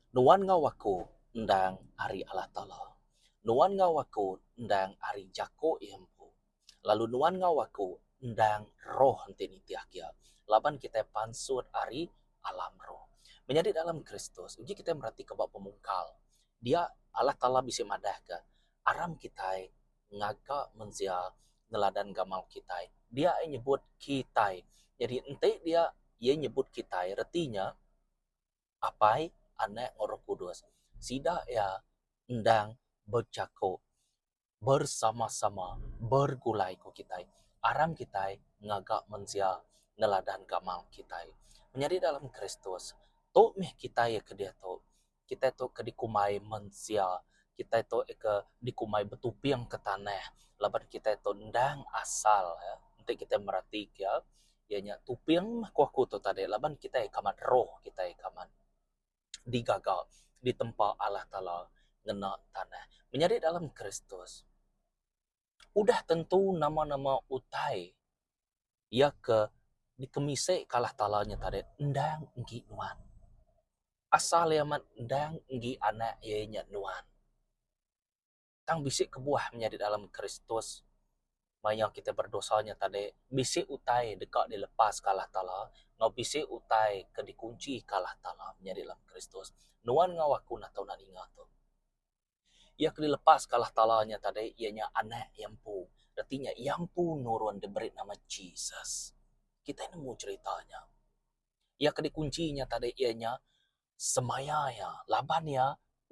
Nuan enggau aku endang ari Allah Taala. Nuan enggau aku endang ari jako iya empu. Lalu nuan enggau aku endang roh enti nitih kia laban kitai pansut ari alam roh. Menyadi dalam Kristus uji kitai meratika ba pemungkal dia Allah Taala bisi madahka aram kitai. ngaga mensia neladan gamal kitai. Dia iya nyebut kitai. Jadi enti dia iya nyebut kitai reti nya Apai, Anak enggau Roh Kudus. Sida iya endang bejaku bersama-sama bergulai ku kitai aram kitai ngaga mensia neladan gamal kitai. Menyadi dalam Kristus tu meh kitai iya ke diatu. kitai tu ke dikumbai mensia, kitai tu ke dikumbai betuping ke tanah laban kitai tu endang asal ne. Enti kitai mereti ke iya nya tuping meh ku aku tu tadi laban kitai kamat roh kitai kamat digaga ditempa Allah Taala ngena tanah. Menyadi dalam Kristus. Udah tentu nama-nama utai iya ke dikemisika Allah Taala nya tadi endang enggi nuan. Asal iya amat endang enggi anak iya nya nuan. Tang bisi kebuah menyadi dalam Kristus mayuh kita berdosa nya tadi bisi utai deka dilepaska Allah Taala enggau bisi utai ke dikunchika Allah Taala menyadi dalam Kristus. Nuan enggau aku natu nadinga tu. Iya ke dilepas ke alah tala nya tadi iya nya Anak iya empu. Reti nya iya empu nurun diberi nama Jesus. Kitai nemu cherita nya. Iya ke dikunchi nya tadi iya nya semaya iya laban iya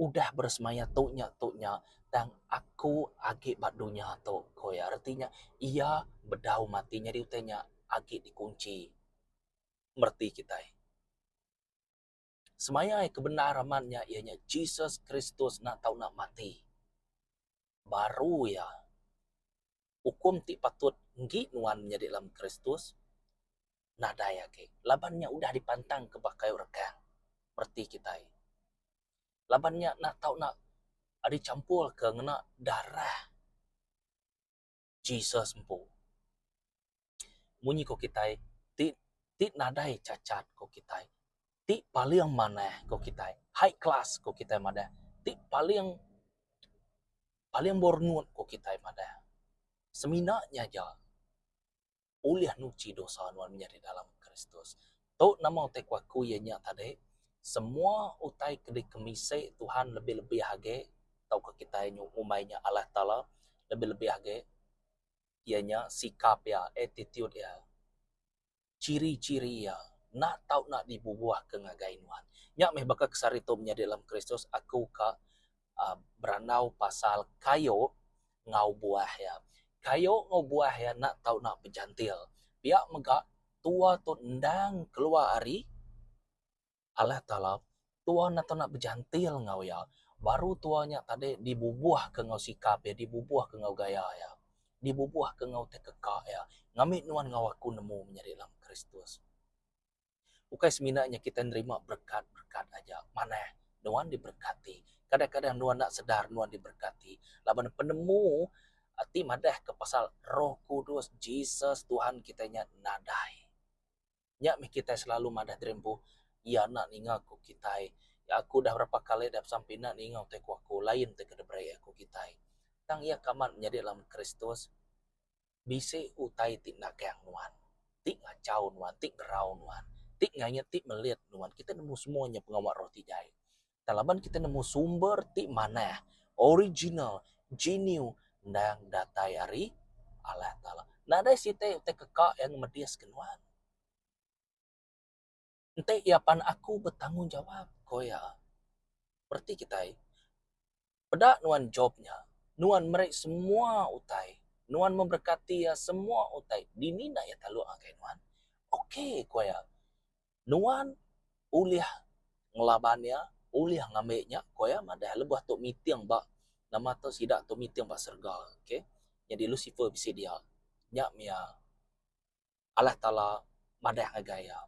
udah beresemaya tu nya tu nya tang aku agi ba dunya tu ku iya. Reti nya iya bedau mati nyadi utai nya agi dikunchi mereti kitai. Semayai ke bendar amat nya iya nya Jesus Kristus enda tau enda mati. Baru iya ukum ti patut enggi nuan menyadi dalam Kristus nadai agi laban nya udah dipantang ke ba kayu regang reti kitai. Laban nya enda tau enda dichampurka ngena darah. Jesus empu. Munyi ko kitai ti ti nadai cacat ko kitai ti paling manah ko kitai high class ko kitai madah ti paling paling berenut ko kitai madah semina nya aja. ulih nuchi dosa nuan menyadi dalam Kristus. Tu nama utai ku aku iya nya tadi semua utai ke dikemisi Tuhan lebih-lebih agi tauka kitai ngumbai nya Allah Taala lebih-lebih agi iya nya sikap iya, attitude iya, chiri-chiri iya enda tau dibubuhka ngagai nuan. Nya meh baka kesari tu menyadi dalam Kristus aku ka berandau pasal kayu enggau buah iya. Kayu enggau buah iya enda tau ena bejantil. Pia mega tua tu endang keluar ari Allah Taala, tua enda tau ena bejantil enggau iya. Baru tua nya tadi dibubuhka enggau sikap iya, dibubuhka enggau gaya iya, dibubuhka enggau ti keka iya. Ngambi nuan enggau aku nemu menyadi dalam Kristus. Ukai semina nya kitai nerima berekat-berekat aja, manah nuan diberekati. Kadang-kadang nuan enda sedar nuan diberekati laban penemu ti madahka pasal Roh Kudus, Jesus, Tuhan kitai nya nadai. Nya mih kitai selalu madah diri empu, Iya enda ninga ku kitai. Aku udah berapa kali udah pesan pina ninga utai ku aku, lain ti ke diberi Iya ku kitai. Tang iya ke amat nyadi dalam Kristus. bisi utai ti enda kayang nuan, ti ngachau nuan, ti gerau nuan, ti ngait, ti melit nuan. Kitai nemu semua nya pengawa roh ti jai. Tang laban kitai nemu sumber ti manah, original, genuine endang datai ari Allah Taala. Nadai siti utai keka yang madiska nuan. Enti iya pan aku betanggungjawab, ku iya. Bereti kitai, peda nuan Jop nya. Nuan meri semua utai. Nuan memberkati iya semua utai. Dini enda iya taluk ngagai nuan? Okey, ku iya. Nuan ulih ngelaban iya, ulih ngambi nya, ku iya madah lebuh tu meeting ba nama tu sida tu meeting ba serega. Okey. Nyadi Lusifer bisi dia. Nya mih iya. Allah Taala madah ngagai iya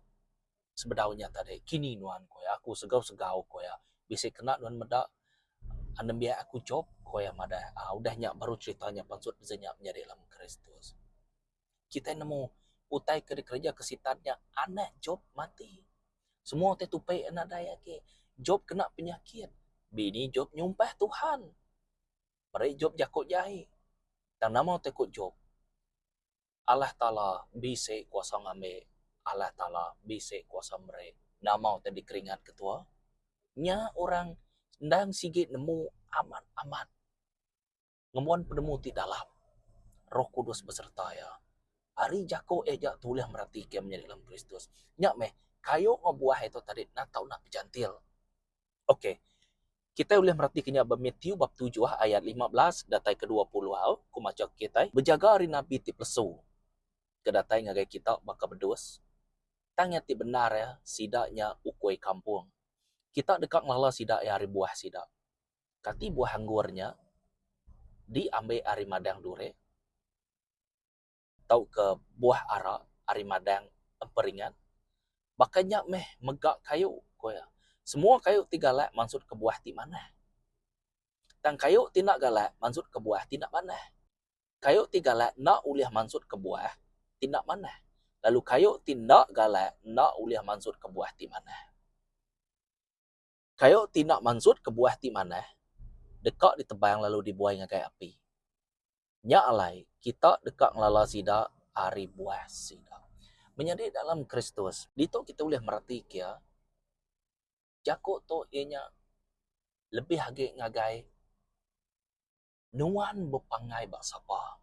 sebedau nya tadi kini nuan ku iya aku segau segau ku iya bisi kena nuan meda nembiak aku Job ku iya madah udah nya baru cerita nya pansut bisi nya menyadi dalam kristus. Kitai nemu utai ke dikereja ke sitan nya anak Job mati semua utai tupi iya nadai agi Job kena penyakit bini Job nyumpah Tuhan meri Job jaku jai tang nama utai ku Job Allah Taala bisi kuasa ngambi, Allah Taala bisi kuasa meri. Nama utai dikeringat ketua? Nya orang endang sigi nemu amat amat ngembuan penemu ti dalam. Roh Kudus besereta iya. Ari jaku iya nya tu ulih meratika menyadi dalam Kristus. Nya meh kayuh ngebuah iya tu tadi enda tau pejantil. Okey. Kitai ulih meratika nya ba Matthew bab tujuh ayat lima belas datai ke dua puluh. Au, ku macha ke kitai, bejaga ari nabi ti pelesu ke datai ngagai kita baka bedus, tang iya ti bendar iya, sida nya ukui kampung. Kita deka ngelala sida iya ari buah sida. Kati buah anggur nya diambi ari madang duri? tauka buah ara ari madang emperingat. Baka nya meh mega kayu, ku iya. Semua kayu ti galak mansutka buah ti manah. Tang kayu ti enda galak mansutka buah ti enda manah. Kayu ti galak enda ulih mansutka buah ti enda manah, lalu kayu ti enda galak enda ulih mansutka buah ti manah. Kayu ti enda mansut kebuah ti manah deka ditebang lalu dibuai ngagai api. Nya alai kita deka ngelala sida ari buah sida. Menyadi dalam Kristus, ditu kita ulih meratika iya jaku tu iya nya lebih agi ngagai. Nuan bepanggai ba sapa?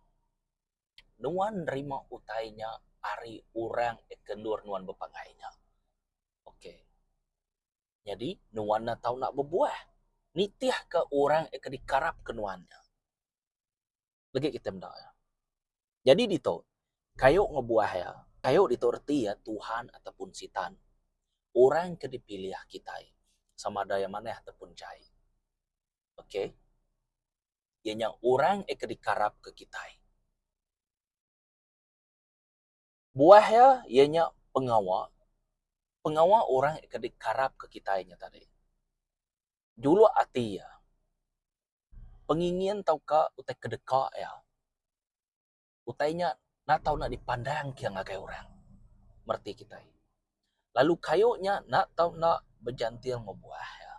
Nuan nerima utai nya ari orang ke endur nuan bepanggai nya. Ok. Nyadi nuan enda tau enda bebuah nitihka orang ke dikarapka nuan nya. Legi kitai meda iya. Nyadi ditu, kayu ngebuah iya, kayu ditu reti iya Tuhan ataupun Sitan. Orang ke dipilih kitai sama ada iya manah ataupun jai. ok iya nya orang eh ke dikarapka kitai. Buah iya iya nya pengawa, pengawa orang eh ke dikarapka kitai nya tadi juluk ati iya, pengingin tauka utai kedeka iya. Utai nya enda tau enda dipandang kia ngagai orang mereti kitai. Lalu kayu nya enda tau enda bejantil ngebuah iya.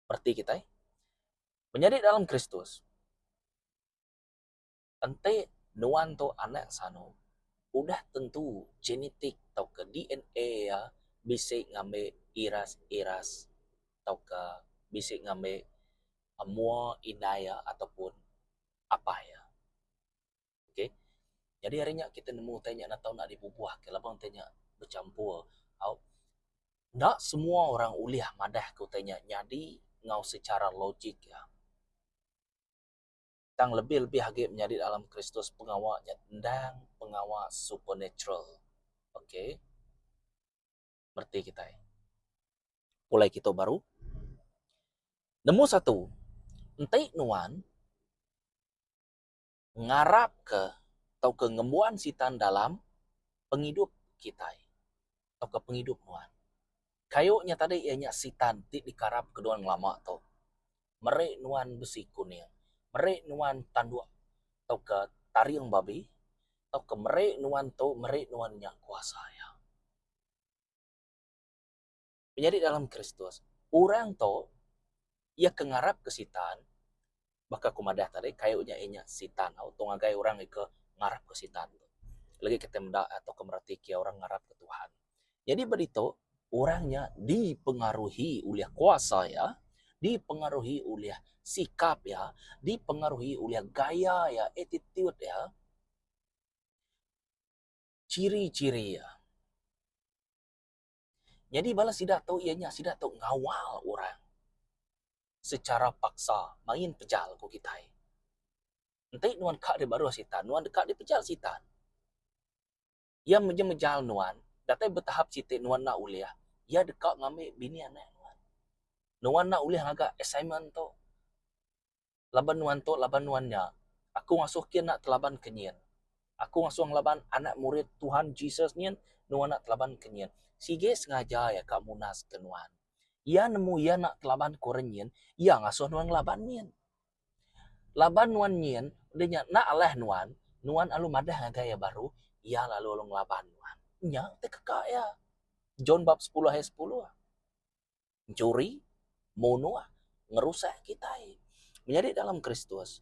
Mereti kitai. Menyadi dalam Kristus, enti nuan tu anak sanu, udah tentu genetik tauka DNA iya bisi ngambi iras-iras tauka bisi ngambi mua indai iya ataupun apai iya. Ok jadi hari nya kita nemu utai nya tau enda dibubuh ka laban utai nya bechampur au enda semua orang ulih madah ka utai nya nyadi enggau secara logik iya. Tang lebih lebih agi menyadi dalam kristus pengawa nya endang pengawa supernatural. Ok. mereti kitai pulai kitu baru. Nemu satu enti nuan ngarap ke tauka ngembuan sitan dalam pengidup kitai tauka pengidup nuan kayu nya tadi iya nya sitan ti dikarap ke nuan ngelama tu meri nuan besi kuning, meri nuan tanduk tauka taring babi tauka meri nuan tu meri nuan nya kuasa iya. Menyadi dalam Kristus, orang tu iya ke ngarapka Sitan, baka aku madah tadi kayu nya inya Sitan tau, tu ngagai orang iko ngarapka Sitan. Legi kita meda tauka mereti kiye orang ngarapka Tuhan. Nyadi ba ditu, orang nya dipengaruhi ulih kuasa iya, dipengaruhi ulih sikap iya, dipengaruhi ulih gaya iya, attitude iya, chiri-chiri iya. Nyadi bala sida tu iya nya sida tu ngawal orang sechara paksa main pejal ku kitai. Enti nuan ka dibaruh sitan, nuan deka dipejal sitan. Iya meja-mejal nuan, datai betahap siti nuan enda ulih iya deka ngambi bini anak nuan. Nuan enda ulih ngaga assignment tu laban nuan tu laban nuan nya. Aku ngasuh kin enda telaban ke nyin. Aku ngasuh ngelaban anak murid Tuhan Jesus nyin nuan enda telaban ke nyin. Sigi sengaja iya ka munaska nuan. Iya nemu iya enda telaban ke orang nyin, iya ngasuh nuan ngelaban nyin. Laban nuan nyin udah nya enda alah nuan, nuan alu madah ngagai iya baru, iya lalu alu ngelaban nuan. Nya ti keka iya. John bab sepuluh ayat sepuluh. Enchuri, munuh, ngerusak kitai. Menyadi dalam Kristus,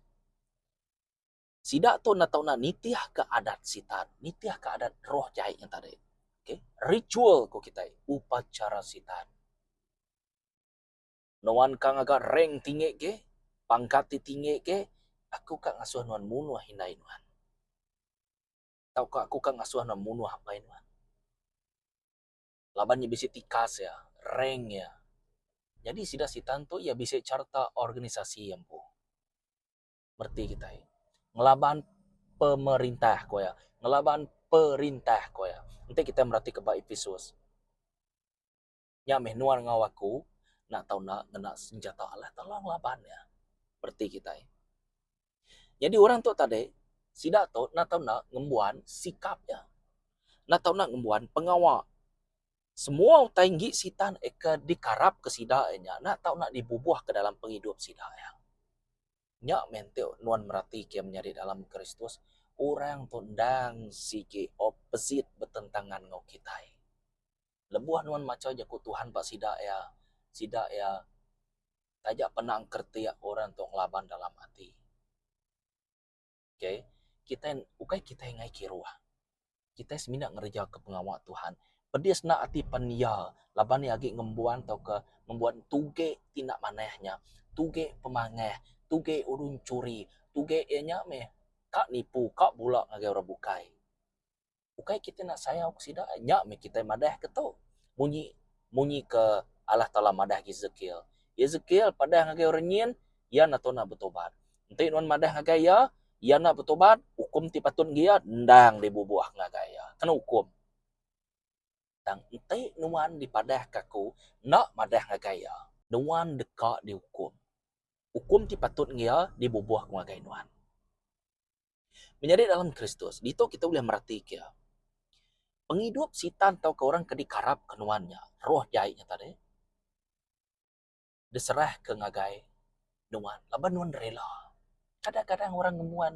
sida tu enda tau nitihka adat Sitan, nitihka adat roh jai nya tadi. Okay. Ritual ku kitai, upacara Sitan. Nuan ka ngaga rank tinggi gih, pangkat ti tinggi gih, aku ka ngasuh nuan munuh indai nuan. Tauka aku ka ngasuh nuan munuh apai nuan. Laban iya bisi tikas iya, rank iya. Nyadi sida Sitan tu iya bisi charta organisasi iya empu. Reti kitai. Ngelaban pemerintah ku iya. Ngelaban perintah ku iya. Enti kitai meratika ba Episus. Nya meh nuan enggau aku enda tau enda ngena senjata alah tolong laban iya reti kitai. Nyadi orang tu tadi sida tu enda tau enda ngembuan sikap iya. Enda tau enda ngembuan pengawa. Semua utai enggi sitan eh ke dikarap ke sida eh nya enda tau enda dibubuh ke dalam pengidup sida iya. Nya meh enti nuan merati ke menyadi dalam Kristus orang tu endang sigi opposite betentangan enggau kitai. Lebuh nuan macha Jaku Tuhan ba sida iya, sida iya taja pernah engkeretik orang tu ngelaban dalam ati. Okay. Kitai, ukai kitai ngaii kiruh. Kitai semina ngereja ke pengawa Tuhan. Pedis enda ati pen iya laban iya agi ngembuan tauka ngembuan tuge ti enda manah nya. Tuge pemangah, tuge urun churi, tuge iya nya meh ka nipu, ka bula ngagai orang bukai. ukai kitai enda sayau ke sida nya meh kitai madah ke tu munyi munyi ke Allah Taala madah Ezekiel. Ezekiel padah ngagai orang nyin iya enda tau nak betubat. Enti nuan madah ngagai iya, iya enda betubat, ukum ti patut ngagai iya endang dibubuh ngagai iya. Kena ukum. Tang enti nuan dipadahka aku enda madah ngagai iya, nuan deka diukum. Ukum ti patut ngagai iya dibubuh ngagai nuan. Menyadi dalam Kristus, ditu kita ulih meratika pengidup Sitan tauka orang ke dikarapka nuan nya, roh jai nya tadi, diserahka ngagai nuan laban nuan rela. Kadang-kadang orang ngemuan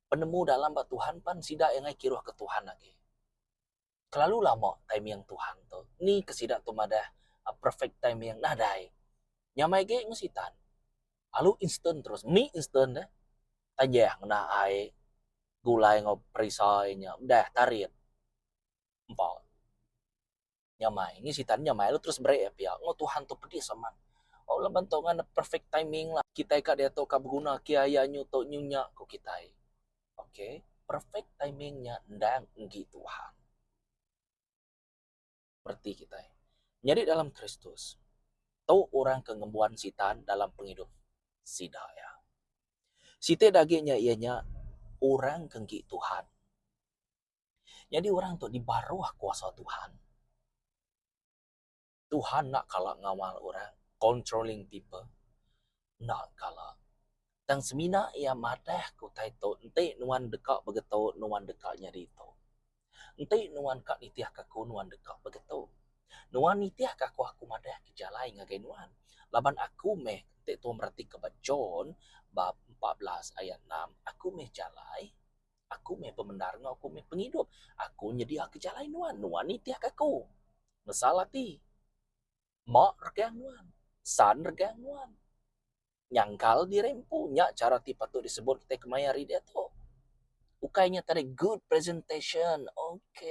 penemu dalam ba Tuhan pan sida iya ngagai kiruhka Tuhan agi. kelalu lama timing Tuhan tu ni ke sida tu madah perfect timing nadai nyamai agi meh sitan lalu instant terus meh instant deh tanjah ngena ai gulai enggau perisai nya udah tarit empa nyamai nyi sitan nyamai lalu terus break pia enggau Tuhan tu pedis amat lalu laban tu ngadan perfect timing kitai ka diatu ka beguna kia iya nyu tu nyu nya ku kitai. Ok perfect timing nya endang enggi Tuhan. Reti kitai nyadi dalam Kristus tu orang ke ngembuan Sitan dalam pengidup sida iya. Siti agi nya iya nya orang ke enggi Tuhan. Nyadi orang tu dibaruh kuasa Tuhan. Tuhan enda kala ngawal orang, controlling people, enda kala. Tang semina iya madah ke utai tu, enti nuan deka begitu, nuan deka nyadi tu. Enti nuan ka nitihka aku, nuan deka begitu. Nuan nitihka aku, aku madah ke jalai ngagai nuan. Laban aku meh, enti tuan meratika ba John bab empat belas ayat enam, aku meh jalai. Aku meh pemendar enggau aku meh pengidup. Aku nyediaka jalai nuan, nuan nitihka aku. Mesal ati, Mak regang nuan, San regang nuan. Nyangkal diri empu, nya chara ti patut disebut kitai kemaya hari diatu. Ukai nya tadai good presentation, ok.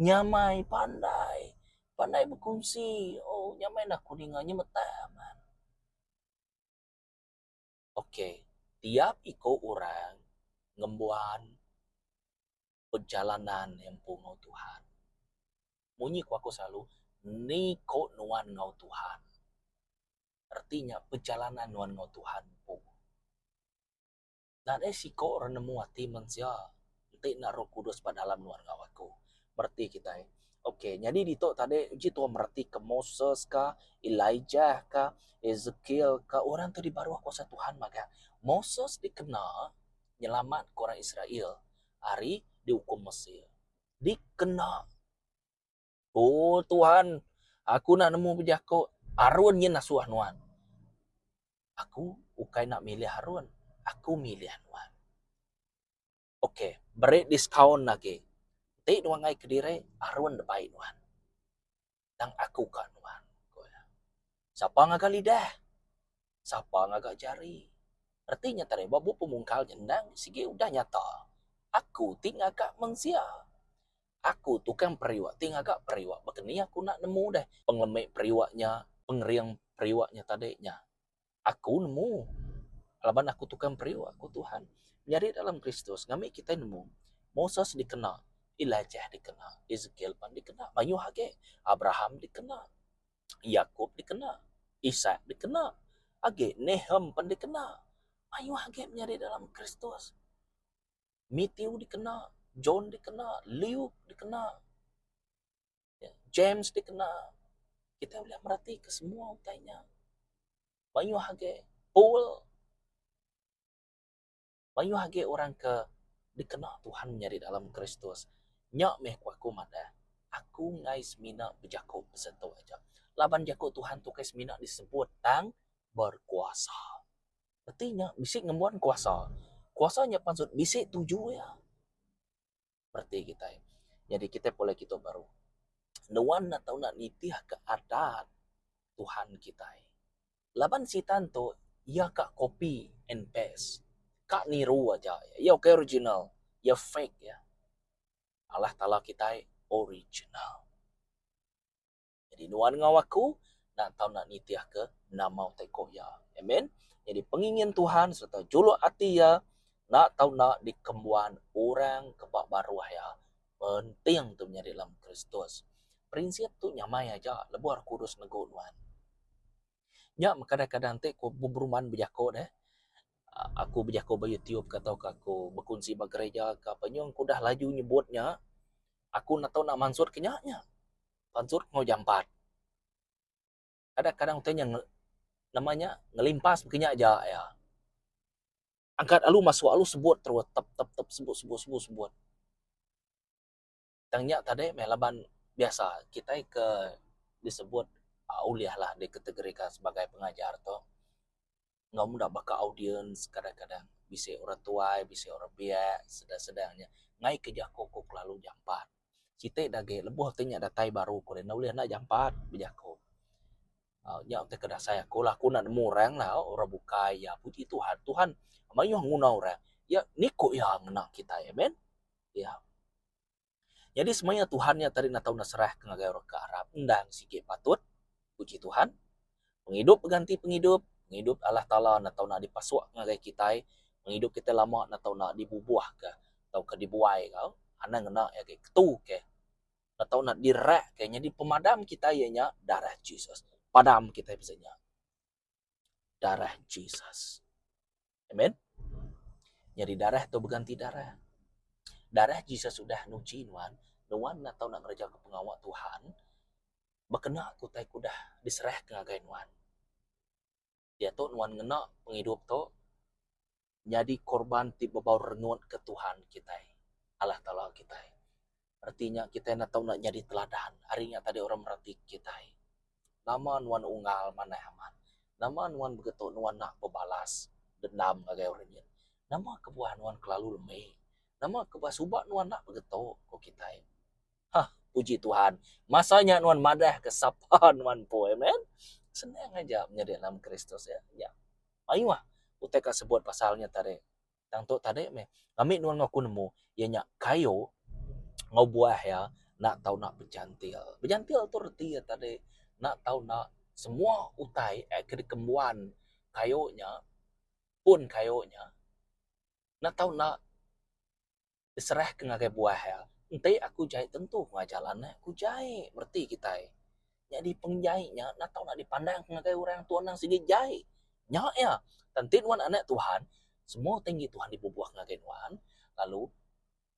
Nyamai pandai, pandai bekunsi, oh nyamai nah aku ninga nyemetak amat. Ok tiap iko orang ngembuan perjalanan empu enggau Tuhan. Munyi ku aku selalu niko nuan enggau Tuhan reti nya perjalanan nuan enggau Tuhan empu. Nadai siko orang nemu ati mensia. Enti enda roh kudus ba dalam nuan enggau aku. Mereti kitai. Ok, nyadi ditu tadi uji tuah meretika Moses ka, Elijah ka, Ezekiel ka, orang tu dibaruh kuasa Tuhan magang. Moses dikena nyelamatka orang Israel ari diukum Mesir. Dikena. O Tuhan, aku enda nemu bejako Arun nyin nasuh Nuan. Aku ukai enda milih Arun, aku milih Nuan. Ok, beri diskaun agi. Enti nuan ngai kediri, Arun dek bai nuan. Tang aku ka nuan, ku iya. Sapa ngaga lidah? sapa ngaga jari. Reti nya tadai ba bup pemungkal nya endang sigi udah nyata. Aku ti ngaga meng sia. Aku tukang periuk ti ngaga periuk baka ni aku enda nemu deh pengelemi periuk nya, pengering periuk nya tadi nya. Aku nemu laban aku tukang periuk, ku Tuhan. Menyadi dalam Kristus ngambi kitai nemu, Moses dikena, Elijah dikena, Ezekiel pan dikena, mayuh agi, Abraham dikena. Yakub dikena, Isak dikena, agi Nahum pen dikena. Mayuh agi menyadi dalam Kristus. Mathew dikena, John dikena, Luke dikena, James dikena. Kitai ulih meratika semua utai nya. Mayuh agi Paul. mayuh agi orang ke dikena Tuhan nyadi dalam Kristus. Nya meh ku aku madah, aku enggai semina bejaku pasal tu aja. Laban jaku Tuhan tu ukai semina disebut tang berkuasa. Reti nya bisi ngembuan kuasa. Kuasa nya pansut bisi tuju iya. reti kitai. Nyadi kitai pulai kitu baru nuan enda tau nak nitihka adat Tuhan kitai. Laban sitan tu iya ka copy and paste. Ka niru aja. Iya ukai original. Iya fake. Allah Taala kitai original. Nyadi nuan enggau aku enda tau enda nitihka nama utai ko iya. Amen. Nyadi pengingin Tuhan sereta juluk ati iya enda tau enda dikembuan orang ke ba baruh iya. Penting tu menyadi dalam Kristus. Prinsip tu nyamai aja lebuh Roh Kudus negu nuan. Nya meh kadang-kadang ti ku beruman bejako deh uhh aku bejako ba YouTube ka tauka aku bekunsi ba gerejaka nyun ku udah laju nyebut nya aku enda tau enda mansut ke nya nya. Pansut enggau jampat. Kadang kadang utai nya nama nya ngelimpas baka nya aja iya. Angkat alu masuk alu sebut terus tep tep tep sebut sebut sebut sebut. Tang nya tadi meh laban biasa kitai ke disebut ulih lah dikategorikan sebagai pengajar tu. enggau meda baka audiens kadang-kadang bisi orang tuai bisi orang biak sedang-sedang nya ngaika jaku ku kelalu jampat. Siti dah agi lebuh ti nya datai baru ku enda ulih enda jampat bejaku. Au nya ti ke dasai aku lah aku enda nemu orang lah orang bukai iya puji Tuhan, Tuhan mayuh nguna orang iya niko iya ngena kitai amen. Iya. Nyadi semaya Tuhan nya tadi natau neserahka ngagai orang ke arap endang sigi patut, puji Tuhan. Pengidup beganti pengidup, pengidup Allah Taala natau enda dipasukka ngagai kitai, pengidup kitai lama natau enda dibubuhka tauka dibuai ka anang ngena iya agi ketu ke natau enda direrakka nyadi pemadam kitai iya nya darah Jesus. Padam kitai pesen nya darah Jesus. Amen. Nyadi darah tu beganti darah. Darah Jesus sudah nuchi nuan, nuan enda tau nak ngereja ke pengawa Tuhan bekena ke utai ke udah diserahka ngagai nuan. Diatu nuan ngena pengidup tu nyadi korban ti bebau rengut ke Tuhan kitai, Allah Taala kitai. reti nya kitai enda tau nyadi teladan ari nya tadi orang meratik kitai. Nama nuan unggal manah amat, nama nuan begetu nuan nak bebalas dendam ngagai orang nyin, nama kebuah nuan kelalu lemi, nama kebuah suba nuan nak begetu ku kitai. Hah puji Tuhan masa nya nuan madah ke sapa nuan empu. Amen. Senang aja menyadi dalam Kristus. Nya mayuh utai ka sebut pasal nya tadi. tang tu tadi meh kami nuan ngaku nemu iya nya kayu enggau buah iya nak tau nak bejantil. Bejantil tu reti iya tadi nak tau nak semua utai air ke dikembuan kayu nya pun kayu nya nak tau nak diserahka ngagai buah iya. Enti aku jai tentu ku ngajar lah neh ku jai bereti kitai. Nyadi penjai nya enda tau nak dipandang ngagai orang tau anang sigi jai. Nya iya tan enti nuan anak Tuhan semua tinggi Tuhan dibubuh ngagai nuan lalu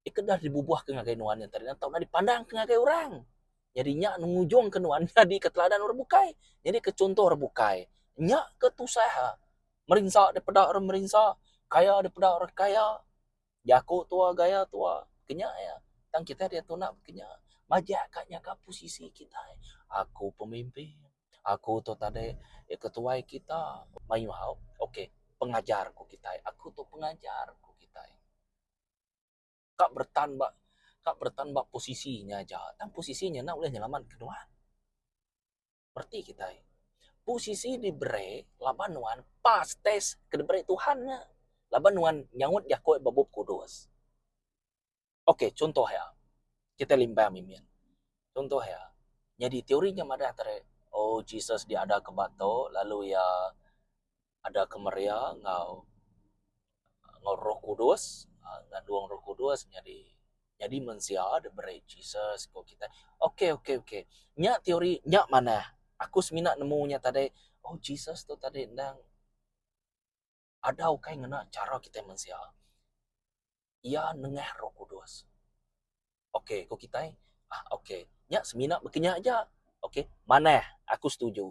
dikena dibubuh ngagai nuan nya tadi enda tau nak dipandang ngagai orang. Nyadi nya ngujung ke nuan nyadi ke teladan orang bukai, nyadi ke chunto orang bukai. Nya ke tusah iya. Merinsa daripada orang merinsa, kaya daripada orang kaya. Jaku tua gaya tua ke nya iya tang kitai diatu enda ke nya majak ka nyaga posisi kitai aku pemimpin aku tu tadai ketuai kita mayuh haup ok pengajar ku kitai aku tu pengajar ku kitai ka beretan ba ka beretan ba posisi nya aja tang posisi nya enda ulih nyelamat ke nuan. Reti kitai. Posisi diberi laban nuan pas test ke diberi Tuhan nya. Laban nuan nyaut jaku ba Bup Kudus. Ok, chuntoh iya. Kitai limbang mimin. Chuntoh iya, nyadi teori nya madah tare, oh, Jesus diadaka ba tu, lalu iya ada kemeria enggau enggau roh kudus aaa ngandung roh kudus nyadi nyadi mensia diberi Jesus ku kitai. Ok ok ok nya teori nya manah aku semina nemu nya tadi oh Jesus tu tadi endang ada ukai ngena chara kitai mensia. iya nengah roh kudus. Ok, ku kitai, ah ok, nya semina bekenya aja. Ok, manah, aku setuju.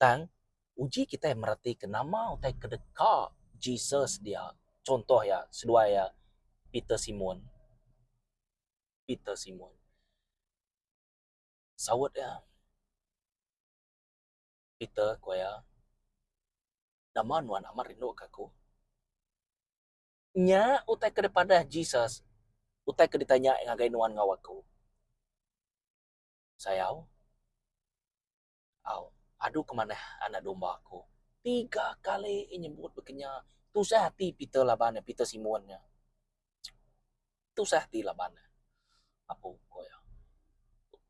Tang, uji kitai meratika nama utai ke deka Jesus dia. Chuntoh iya, seduai iya, Peter Simon. Peter Simon. Saut iya, Peter, ku iya, nama nuan amat rinduka aku? Nya utai ke dipadah Jesus, utai ke ditanya Iya ngagai nuan enggau aku. Sayau, au, adu ke manah anak domba Aku. Tiga kali Iya nyebut bakanya, tusah ati Peter laban ne, Peter Simon nya. Tusah ati laban ne, Apu, ku iya.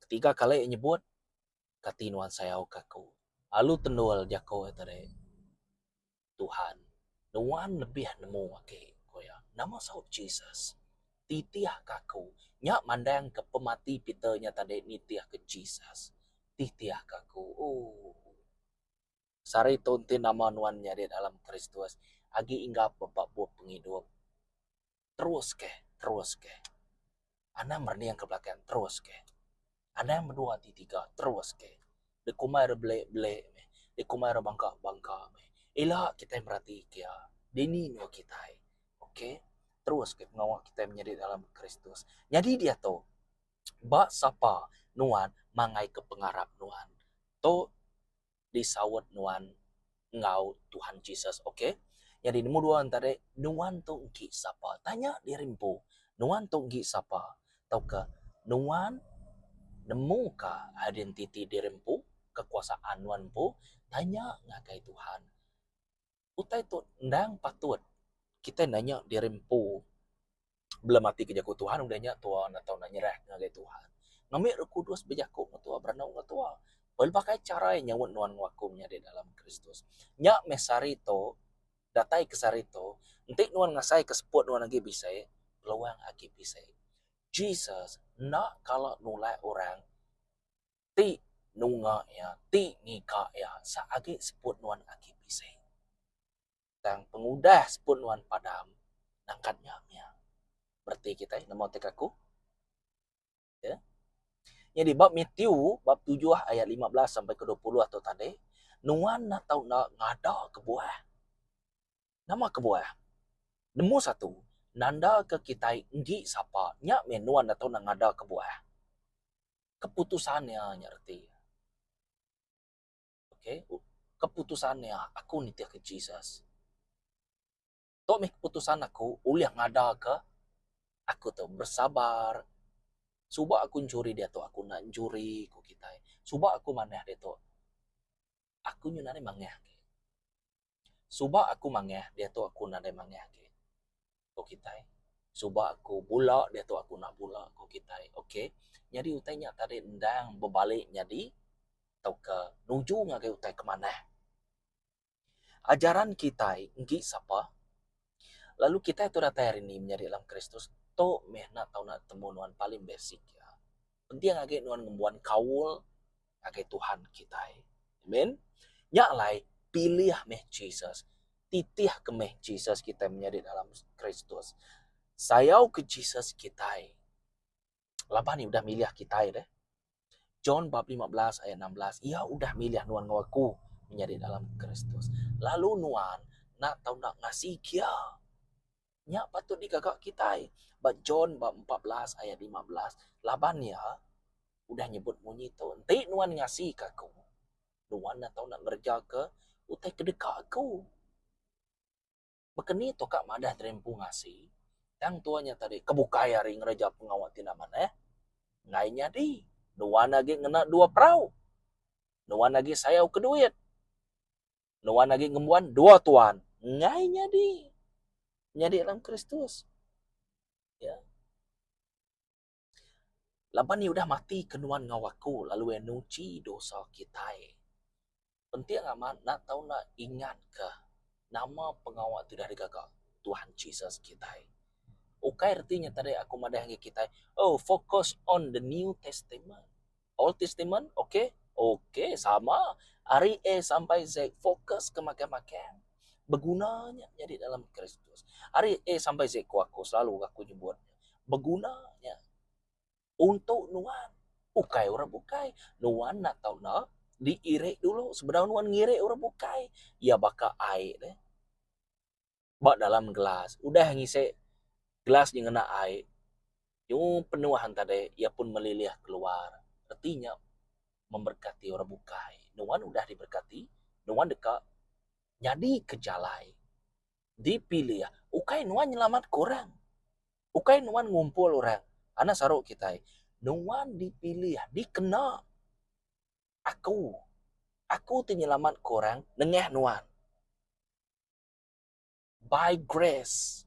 Ketiga kali Iya nyebut, Kati nuan sayauka Aku? Lalu tendul jaku Iya tadi. Tuhan, nuan lebih nemu agi, ku iya. Nama saut Jesus? Titihka aku. Nya mandangka pemati Peter nya tadi nitihka Jesus. Titihka aku. Ooh. Sehari tu enti nama nuan nyadi dalam Kristus, agi inggap ba bup pengidup. terus ke terus ke anang merening ke belakang terus ke anang bedua ti tiga terus ke de kuma re belek belek meh de kuma re bangka bangka meh ila kitai mereti ke iya dini nua kitai ok terus ke pengawa kitai menyadi dalam kristus nyadi diatu ba sapa nuan mangai ke pengarap nuan tu disaut nuan enggau Tuhan Jesus ok nyadi number dua tadi nuan tu engki sapa tanya diri empu nuan tu engki sapa tauka nuan nemu ka identiti diri empu kekuasaan nuan empu tanya ngagai Tuhan. utai tu endang patut kitai nanya diri empu belum ati ke jaku Tuhan udah nya tuwa enda tau nak nyerah ngagai Tuhan. Ngambi Roh Kudus bejaku ngan tuwa berenung ngan tuwa. Pelaba kai chara iya nyaup nuan ngelakuka nya di dalam Kristus. Nya meh sehari tu datai ke sehari tu enti nuan ngasai ke seput nuan agi bisai peluang agi bisai. Jesus enda kala nulak orang. ti nunga iya, ti ngiga iya sak agi seput nuan aki bisi. Tang pengudah seput nuan padam nangkat nya mia. Bereti kitai nemu ti kaku. Ya. Nyadi ba Mathew bab tujuh ayat lima belas sampai ke dua puluh tu tadi, nuan enda tau enda ngada kebuah. Nama kebuah? Nemu satu, nandaka kitai enggi sapa, nya meh nuan enda tau enda ngada kebuah. keputusan iya nya reti okay keputusan iya aku nitih ke Jesus tu meh keputusan aku ulih ngada ke aku tu bersabar suba aku nyuri diatu aku enda nyuri ku kitai suba aku manah diatu aku nyau naring mangah agi. Suba aku mangah diatu aku nadai mangah agi, ku kitai. Suba aku bula diatu aku enda bula, ku kitai. Ok, nyadi utai nya tadi endang bebali nyadi tauka nuju ngagai utai ke manah. Ajaran kitai enggi sapa Lalu kitai tu datai hari ini menyadi dalam Kristus, tu meh enda tau temu nuan paling basic iya. Penting agi nuan ngembuan kaul ngagai Tuhan kitai. Amen. Nya alai pilih meh Jesus, titih ke meh Jesus kitai menyadi dalam Kristus. Sayau ke Jesus kitai. laban iya udah milih kitai deh. John bab lima belas ayat enam belas, iya udah milih nuan enggau aku menyadi dalam Kristus. Lalu nuan nak tau nak ngasi kia. Nya patut digaga kitai. Ba John bab empat belas ayat lima belas, laban iya udah nyebut munyi tu, enti nuan ngasika aku, nuan nak tau nak ngerejaka utai kedeka aku. Bekeni tu ka madah tadi empu ngasi. Tang tua nya tadi ke bukai ari ngereja pengawa ti enda manah. Enggai nyadi. Nuan agi ngena dua perau. Nuan agi sayau ke duit. Nuan agi ngembuan dua tuan. Enggai nyadi. Nyadi dalam Kristus. Ya. Laban iya udah mati ke nuan enggau aku lalu iya nguji dosa kitai. Penting amat enda tau enda ingat ke nama pengawa ti udah digaga Tuhan Jesus kitai. Ukai reti nya tadi aku madah ngagai kitai, oh focus on the new testament. Old Testament, ok, ok sama ari A sampai Z fokus ke makai makai beguna nya nyadi dalam Kristus. Ari A sampai Z ku aku selalu aku nyebut beguna nya untuk nuan ukai orang bukai nuan enda tau na diiri dulu sebedau nuan ngirik orang bukai iya baka ai deh. ba dalam gelas udah ngisi gelas nya ngena ai nyuh penuh enta dei iya pun melilih keluar reti nya memberkati orang bukai nuan udah diberkati nuan deka nyadi ke jalai dipilih ukai nuan nyelamat ke orang ukai nuan ngumpul orang anak saru kitai nuan dipilih dikena aku aku ti nyelamat ke orang nengah nuan. By grace.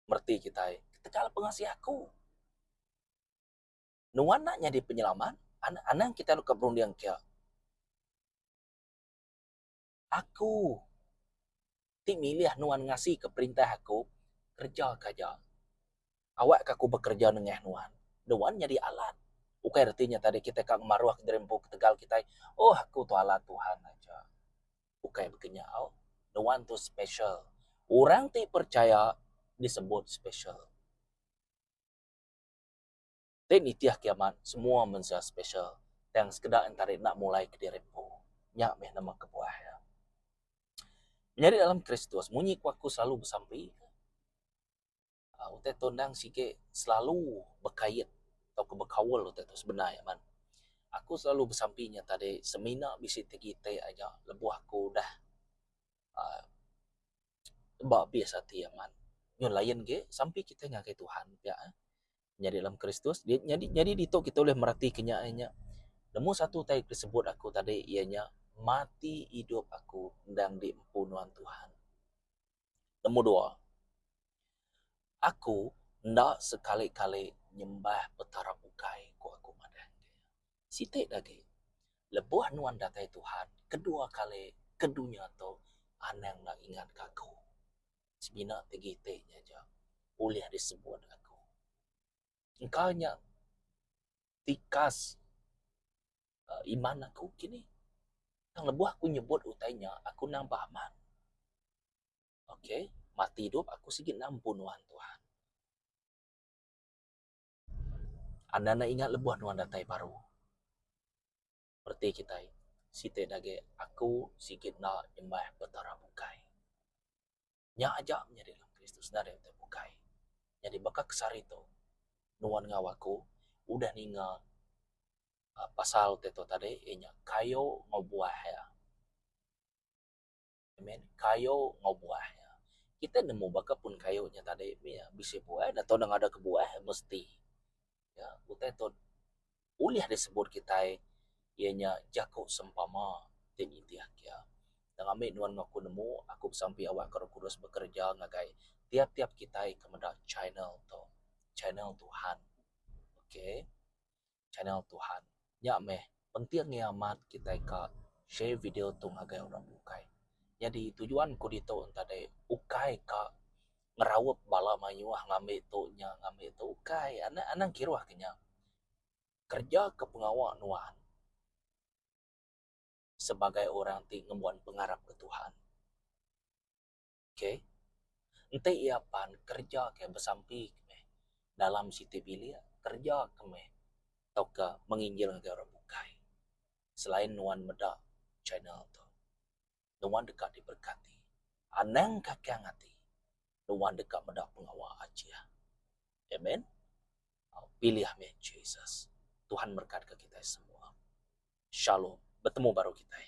Merti kitai. Ketegal pengasih aku. Nuan nak nyadi penyelamat. Anang kitai deka berunding kia. Aku ti milih nuan ngasika perintah aku, kerejaka aja. Awakka aku bekereja nengah nuan. Nuan nyadi alat. Ukai reti nya tadi kitai ka ngemaruh diri empu ketegal kitai, oh aku tu alat Tuhan aja. Ukai bekenyau. Nuan tu special. Orang ti percaya disebut special. Ti nitih kiamat semua mensia special tang sekeda entari enda mulai kediri empu. Nya meh nama kebuah iya. Menyadi dalam Kristus, munyi ku aku selalu besampi. Utai tu endang sigi selalu bekait atau pun bekaul utai tu sebedar nya man. Aku selalu besampi nya tadi semina bisi tegi ti aja lebuh aku udah aaa ba abis ati aman. Nyun lain agi sampi kitai ngagai Tuhan pia eh nyadi dalam Kristus nyadi nyadi ditu kitai ulih mereti ke nya inya nombor satu utai ke sebut aku tadi iya nya mati idup aku endang di empu nuan Tuhan. Nemu dua, aku enda sekali-kali nyembah petara bukai ku aku madah enggai. Siti agi, lebuh nuan datai Tuhan kedua kali ke dunya tu anang enda ingatka aku. Semina ti gitik nya aja ulih disebut aku. Engka nya tikas. Iman aku kini. Tang lebuh aku nyebut utai nya, aku endang ba amat. Ok, mati idup aku sigi endang empu nuan, Tuhan. Anda enda ingat lebuh nuan datai baru. Reti kitai, siti agi aku sigi enda nyembah petara bukai. Nya aja menyadi dalam Kristus enda deh utai bukai. Nyadi baka kesari tu nuan enggau aku udah ninga aaa pasal utai tu tadi iya nya kayu enggau buah iya. Amen. Kayu enggau buah iya. Kitai nemu baka pun kayu nya tadi mih iya bisi buah enda tau enda ngada ke buah mesti. Utai tu ulih disebut kitai iya nya jaku sempama ti nitih kia. Tang ami nuan enggau aku nemu aku besampi awakka Roh Kudus bekereja ngagai tiap-tiap kitai ke meda channel tu. Channel Tuhan. Okay. Channel Tuhan. Nya meh penting iya amat kitai ka share video tu ngagai orang bukai. Nyadi tujuan ku ditu tadi ukai ka ngeraup bala mayuh ngambi tu nya ngambi tu ukai anang anang kiruh ke nya. Kereja ke pengawa nuan sebagai orang ti ngembuan pengarap ke Tuhan. Ke. Enti iya pan kereja ke besampi ke meh dalam siti bilik kereja ke meh tauka menginjil ngagai orang bukai. Selain nuan meda channel tu, nuan deka diberkati. Anang kakang ati nuan deka meda pengawa Achiah. Amen. Pilih meh Jesus. Tuhan merekatka kitai semua. Shalom. Betemu baru kitai.